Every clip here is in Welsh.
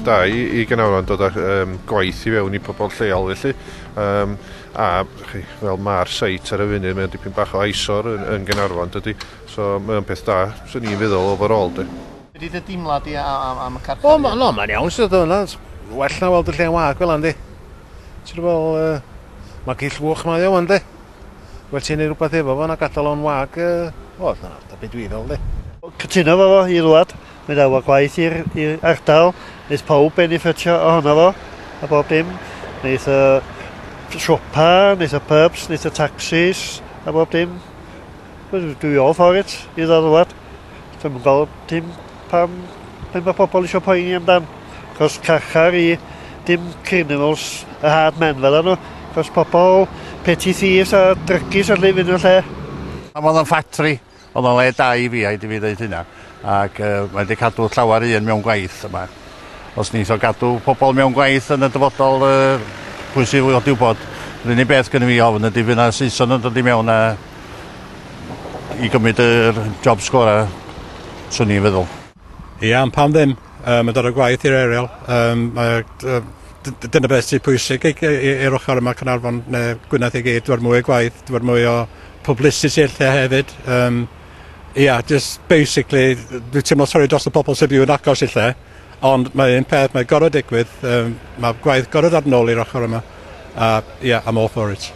da i, i Gynarfon dod â um, gwaith i fewn i pobl lleol felly. Um, a chi, fel mae'r seit ar y funud, mae'n dipyn bach o aisor yn, yn Gynarfon dydy. So mae'n peth da, sy'n ni'n feddwl overall dy. Be di dy deimlad di am y carchar? O, no, mae'n iawn sydd o yna. Well na weld y lle wag fel yna, di. Ti'n fel, uh, mae gill fwch mae o, ynddi. Wel, ti'n ei rhywbeth efo fo, na gadael o'n wag, uh, o, na, da byd dwi fel, di. Cytuno fo fo, i rwad. Mae da wa gwaith i'r ardal. Neith pawb benefitio ohono fo, a bob dim. Neith y siopa, neith y pubs, neith y taxis, a bob dim. Dwi all for it, i dda rwad. Dwi'm yn gweld dim pam be' ma' pobol isio poeni amdan. Cos carchar i dim criminals a hard men fel nhw. Cos pobol petty thieves a drygis a llefyn y lle. A ma' o'n ffatri, o'dd o'n le da i fi, rhaid i fi ddeud hynna, ac yy mae wedi cadw llawer un mewn gwaith yma. Os neith o gadw pobol mewn gwaith yn y dyfodol yy pwy sy i wybod? Yr unig beth gynno fi ofn ydi fydd 'na Saeson yn dod i mewn a I gymryd yr jobs gora, swn i'n feddwl. Ia, ond pam ddim? Um, yn dod o gwaith i'r aerial. Um, dyna beth sy'n pwysig i'r ochr yma Cynarfon neu Gwynedd i gyd. Dwi'n mwy o gwaith, dwi'n mwy o publicity lle hefyd. Um, ia, just basically, dwi'n teimlo sori dros y pobl sy'n byw yn agos i lle, ond mae un peth, mae gorau digwydd, um, mae gwaith gorau ddod yn ôl i'r ochr yma, a ia, I'm all for it.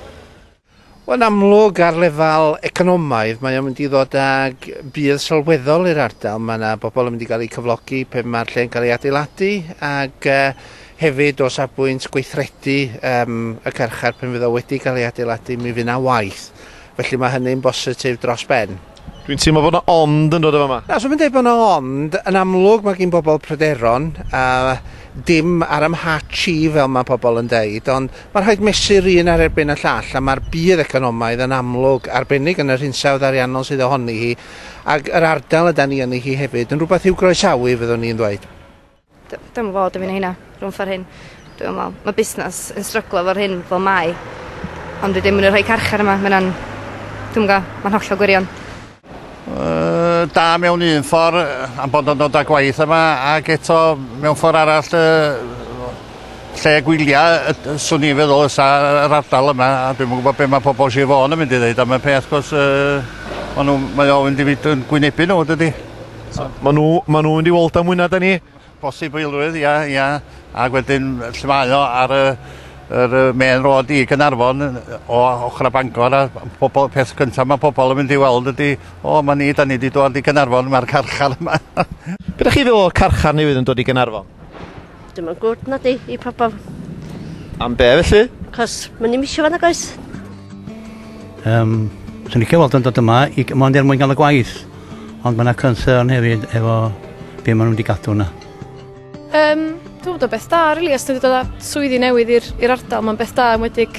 Yn amlwg, ar lefel economaidd, mae o'n mynd i ddod ag budd sylweddol i'r ardal. Mae yna bobl yn mynd i gael eu cyflogi pe mae'r lle'n cael ei adeiladu, ac yy hefyd o safbwynt gweithredu yym y carchar pan fydd o wedi cael ei adeiladu, mi fydd 'na waith. Felly, mae hynny'n bositif dros ben. Dwi'n teimlo bod 'na ond yn dod o fama. Na, swm yn deud bod 'na ond. Yn amlwg mae gin bobl pryderon, a dim ar 'y mhatch i fel mae pobl yn deud, ond mae rhaid mesur un ar erbyn y llall, a mae'r budd economaidd yn amlwg, arbennig yn yr hinsawdd ariannol sydd ohoni hi, ac yr ardal y da ni yni hi hefyd, yn rhywbeth i'w groesawu, fyddwn i'n ddweud. Dwi'm yn gweld dim un o heina rhwng ffor hyn. Dwi'm yn me'wl. Ma' busnas yn stryglo fo'r hyn fel mae. Ond wedyn ma' 'na rhei carchar yma ma' wnna'n dwi'm yn g'o' ma'n hollol gwirion. Yy da mewn un ffor yy am bod o'n dod â gwaith yma ag eto mewn ffor arall yy lle gwylia yy yy swn i'n feddwl fysa yr ardal yma a dwi'm yn gwbod be' ma' pobol Sir Fôn yn mynd i ddeud am y peth 'c'os yy ma' n'w mae o mynd i fyd- yn gwynebu n'w dydi? So, maen nhw, maen nhw mynd i weld am mwy na da ni? Bosib o ilrwydd, ia, ia. Ac wedyn, lle mae o ar y, yr y main road i Gynarfon o ochr a Bangor a pobl, peth cyntaf mae pobl yn mynd i weld ydy, o, mae ni, da ni wedi dod i Gynarfon, mae'r carchar yma. Be da chi feddwl o'r carchar newydd yn dod i Gynarfon? Dim yn gwrdd na di i pobl. Am be felly? Cos mae'n i'n misio fan ag oes. Um, Swn i'n cael weld yn dod yma i mond er mwyn gael y gwaith. Ond mae yna concern hefyd efo be maen nhw wedi gadw yna. Um, dwi'n bod o beth da, rili, really, os ti'n dod â swyddi newydd i'r ardal, mae'n beth da yn wedig